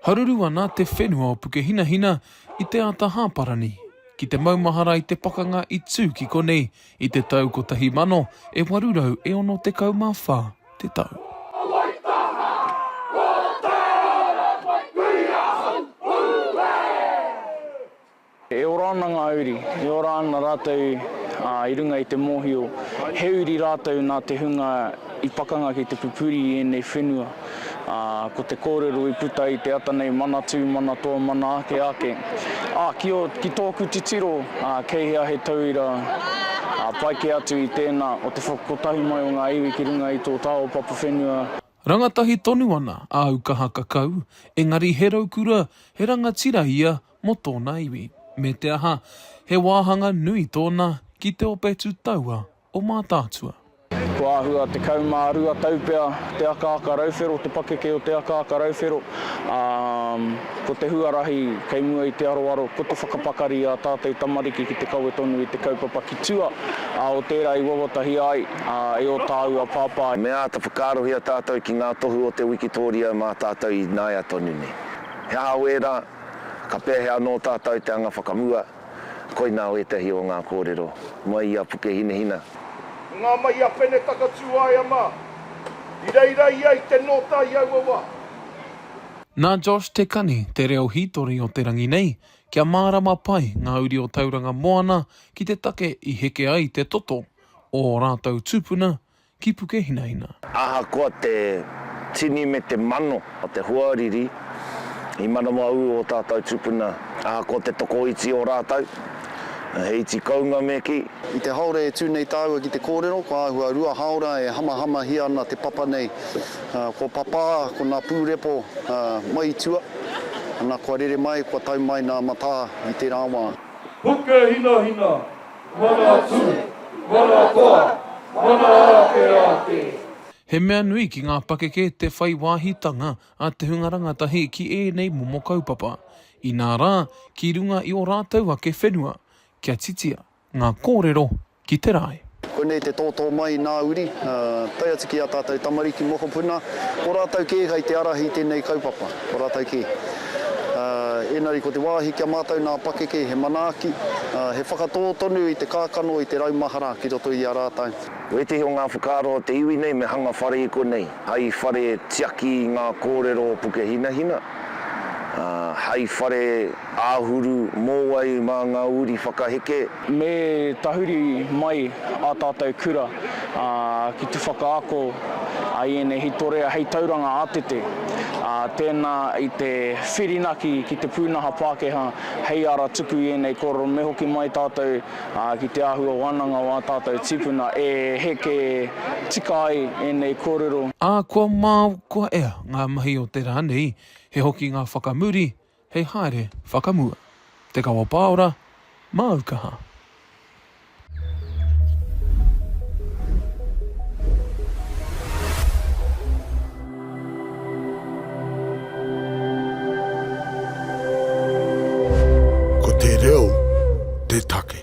Haruru ana te whenua o Pukehinahina i te ata hāparani ki te maumahara i te pakanga i tū ki konei i te tau 1000 e 864 te tau. E ora ana ngā uri, e ora ana rātou i runga i te mōhio he uri rātou nā te hunga i pakanga ki te pupuri i ēnei whenua. Ko te kōrero i puta i te ata nei, Manatū, Manatoa, Mana Ake Ake. Ā, ki tōku titiro, kei hea he tauira pai kē atu i tēnā o te whakakotahi mai o ngā iwi ki runga i tō tāua papa whenua? Rangatahi tonu ana āu kaha kakau, engari he raukura, he rangatira ia mō tōna iwi, me te aha, he wāhanga nui tōna ki te ope tūtaua o Mātaatua. Kua āhua 12 tau pea te akaaka rauwhero, te pakeke o te akaaka rauwhero, ā, ko te huarahi kei mua i te aroaro, ko te whakapakari i ā tātou tamariki ki te kawe tonu i te kaupapa ki tua, ā, o tērā i wawatahia ai, ā, e ō tāua pāpā. Me āta whakaarohia tātou ki ngā tohu o te wikitōria mā tātou ināia tonu nei. He aha wērā? Ka pēhea anō tātou i te anga whakamua? Koinā ētahi o ngā kōrero mai i a Pukehinahina. Ko ngā mahi a Pene Takatūaea mā i reira ia i te nōta i aua wā. Nā Josh Te Kani te reo hītori o te rangi nei, kia mārama pai ngā uri o Tauranga Moana ki te take i heke ai te toto o ō rātou tūpuna ki Pukehinahina. Ahakoa te tini me te mano o te hoariri i manawa ū ō tātou tupuna, ahakoa te tokoiti o rātou, he iti kounga me kī. I te haora e tū nei tāua ki te kōrero, ko āhua rua haora e hamahamahia ana te papa nei. Ko Papā, ko nā Pūrepo mai i tua, ana kua rere mai, kua tau mai nā Matā i tērā wā. Pukehinahina, Mana tū, mana toa, mana ake ake. He mea nui ki ngā pakeke te whai wāhitanga a te hunga rangatahi ki ēnei momo kaupapa, inā rā, ki runga i ō rātou ake whenua, kia titia ngā kōrero ki te rae. Konei te tōtō mai i nā uri, tae atu ki ā tātou tamariki mokopuna, ko rātou kē kei te ārahi i tēnei kaupapa. Ko rātou kē. Ā, engari ko te wāhi ki a mātou nā pakeke he manaaki, ā, he whakatō tonu i te kākano, i te rau mahara ki roto i a rātou. Ko ētehi o ngā whakaaro o te iwi nei me hanga whare i konei, hai whare tiaki i ngā kōrero o Pukehinahina, ā, hai whare āhuru mōwai mā ngā uri whakaheke, Me tahuri mai ā tātou kura ki te whakaako i ēnei hītorea hei tauranga ātete, tēnā i te whirinaki ki te pūnaha Pākehā hei ara tuku i ēnei kōrero me hoki mai tātou ki te āhua wānanga o ā tātou tīpuna e heke tika ai ēnei kōrero. Ā, kua māu, kua ea ngā mahi o te rā nei, he hoki ngā whakamuri, hei haere whakamua. Te Kawa Pāora, māu kaha. Ko te reo te take.